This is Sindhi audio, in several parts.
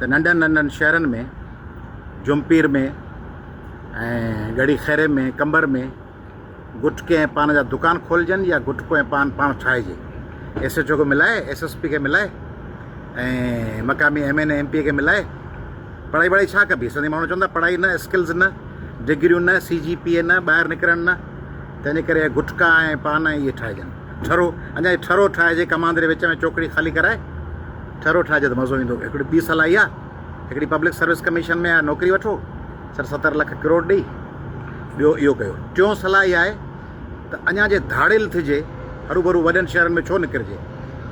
ته ننڍن ننڍن شهرن ۾ جهمپير ۾ ۽ ڳڙهي خيري ۾ قمبر ۾ گٽڪي ۽ پان جا دڪان کولجن يا گٽڪو ۽ پان پاڻ ٺاهجي ايس ايڇ او کي ملائي ايس ايس پي کي ملائي ۽ مقامي M N A M P A کي ملائي پڙهائي وڙهائي ڇا ڪبي سنڌي ماڻهو چوندا پڙهائي نه اسڪلز نه ڊگريون نه سي جي پي اي نه ٻاهر نڪرڻ نه تنهنجي ڪري گٽڪا ۽ پان اهي ٺاهجن ٺرو، اڃا جي ٺرو ٺاهجي ڪماندري وچ ۾ چوڪڙي خالي ڪرائي ٺرو ٺاهجي ته مزو ايندو هڪڙي ٻي صلاح اها هڪڙي پبلڪ سروس ڪميشن ۾ نوڪري وٺو سٺ ستر لک ڪروڙ ڏئي ٻيو اهو ڪيو ٽيون صلاح اها آهي ته اڃا جي ڌاڙيل ٿجي هروڀرو وڏن شهرن ۾ ڇو نڪرجي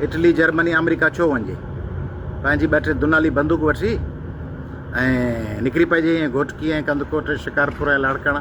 اٽلي جرمني آمريڪا ڇو وڃجي پنهنجي ٻه ٽي دنالي بندوق وٺي ۽ نڪري پئجي ائين گهوٽڪي ۽ ڪنڌڪوٽ شڪارپور ۽ لاڙڪاڻا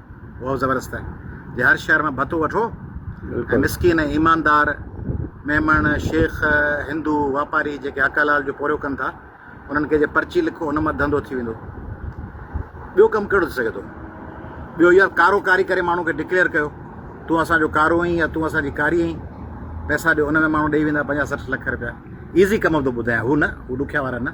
واؤ زبردست آهي جي هر شهر مان ڀتو وٺو ۽ مسڪين ۽ ايماندار ميمڻ شيخ هندو واپاري جيڪي حق حلال جو پوريو ڪن ٿا انهن کي جي پرچي لکو ان مان ڌنڌو ٿي ويندو ٻيو ڪم ڪهڙو ٿي سگهي ٿو ٻيو يار ڪارو ڪاري ڪري ماڻهو کي ڊڪليئر ڪيو تون اسان جو ڪارو آهين يا تون اسان جي ڪاري آهين پئسا ڏيو ان ۾ ماڻهو ڏيئي ويندا پنجاهه سٺ لک رپيا ايزي ڪم ٿو ٻڌايان هو نه هو ڏکيا وارا نه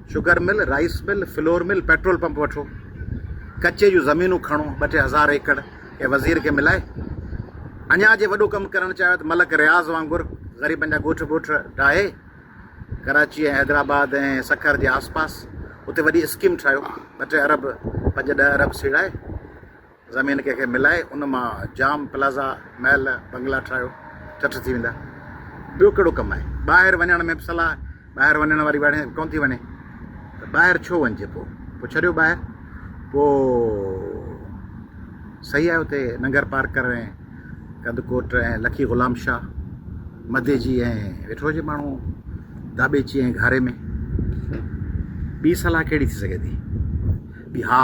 sugar mill, rice mill, flour mill, petrol pump وٺو، ڪچي جون زمينون کڻو ٻه ٽي هزار ايڪڙ ڪنهن وزير کي ملائي اڃا جي وڏو ڪم ڪرڻ چاهيو ته ملڪ رياض وانگر غريبن جا ڳوٺ ٻوٺ ڊاهي ڪراچي ۽ حيدرآباد ۽ سکر جي آس پاس اتي وڏي اسڪيم ٺاهيو ٻه ٽي ارب پنج ڏهه ارب سيڙائي زمين ڪنهن کي ملائي ان مان جام، پلازا، محل، بنگلا ٺاهيو، چٽ ٿي ويندا. ٻيو ڪهڙو ڪم آهي؟ ٻاهر وڃڻ ۾ به صلاح آهي. ٻاهر وڃڻ واري وڻي ڪونه ٿي وڃي ته ٻاهر ڇو وڃجي پوء؟ پوء ڇڏيو ٻاهر. پوء صحيح آهي اتي ننگر پارڪر ۽ ڪنڌڪوٽ ۽ لکي غلام شاهه، مديجي ۽ ويٺو هجي ماڻهو داٻيچي ۽ گهاري ۾. ٻي صلاح ڪهڙي ٿي سگهي ٿي؟ ٻي ها!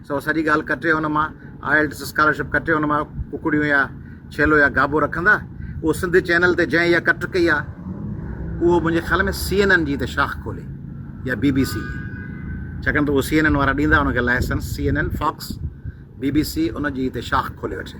سو سڄي ڳالهه ڪٽي ان مان آئلٽس اسڪالرشپ ڪٽي ان مان ڪڪڙيون يا ڇيلو يا گابو رکندا اهو سنڌ چينل تي جنهن اها ڪٽ ڪئي آهي اهو منهنجي خيال ۾ سي اين اين جي ته شاخ کولي يا بي بي سي جي ڇاڪاڻ ته اهو سي اين اين وارا ڏيندا ان کي license C N N Fox B B C ان جي ته شاخ کولي وٺي.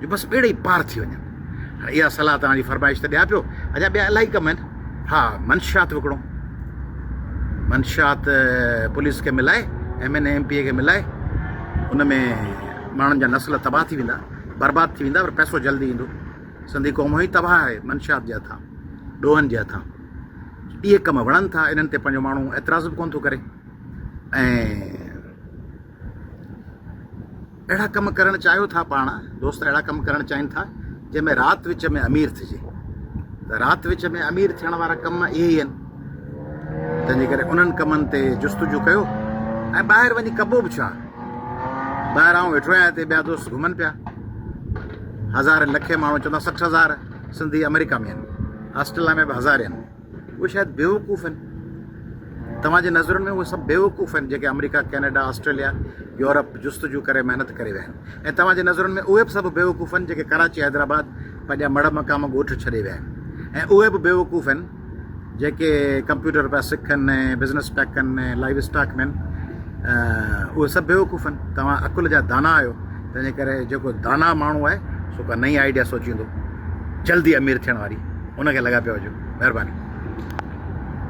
جو بس ٻيڙي ئي پار ٿي وڃن. هاڻي اها صلاح توهان جي فرمائش ته ڏيان پيو، اڃا ٻيا الاهي ڪم آهن. ها، منشيات وڪڻو. منشيات پوليس کي ملائي، M N A M P A کي ملائي، ان ۾ ماڻهن جا نسل تباهه ٿي ويندا، برباد ٿي ويندا پر پئسو جلدي ايندو. سنڌي قوم هونئن ئي تباهه آهي منشيات جي هٿان، ڏوهن جي هٿان. اهي ڪم وڻن ٿا، انهن تي پنهنجو ماڻهو اعتراض به ڪونه ٿو ڪري ۽ اهڙا ڪم ڪرڻ چاهيو ٿا پاڻ دوست اهڙا ڪم ڪرڻ چاهين ٿا جنهن ۾ رات وچ ۾ امير ٿجي ته رات وچ ۾ امير ٿيڻ وارا ڪم اهي ئي آهن تنهنجي ڪري انهن ڪمن تي جستجو ڪيو ۽ ٻاهر وڃي ڪبو به ڇا ٻاهر آئون ويٺو آهيان هتي ٻيا دوست گهمن پيا هزار لکين ماڻهو چوندا سٺ هزار سنڌي آمريڪا ۾ آهن آسٽريليا ۾ به هزار آهن اهي شايد بيوقوف آهن توهان جي نظرن ۾ اهي سڀ بيوقوف آهن جيڪي آمريڪا ڪينيڊا آسٽريليا يورپ جستجو ڪري محنت ڪري ويا آهن ۽ توهان جي نظرن ۾ اهي به سڀ بيوقوف آهن جيڪي ڪراچي حيدرآباد پنهنجا مڙ مقام ڳوٺ ڇڏي ويا آهن ۽ اهي به بيوقوف آهن جيڪي ڪمپيوٽر پيا سکن ۽ بزنس پيا ڪن ۽ لائيو اسٽاڪ مين اهي سڀ بيوقوف آهن توهان عقل جا دانا آهيو تنهنجي ڪري جيڪو داناء ماڻهو آهي سو ڪا نئين آئيڊيا سوچيندو جلدي امير ٿيڻ واري ان کي لڳا پيا هجو مهرباني.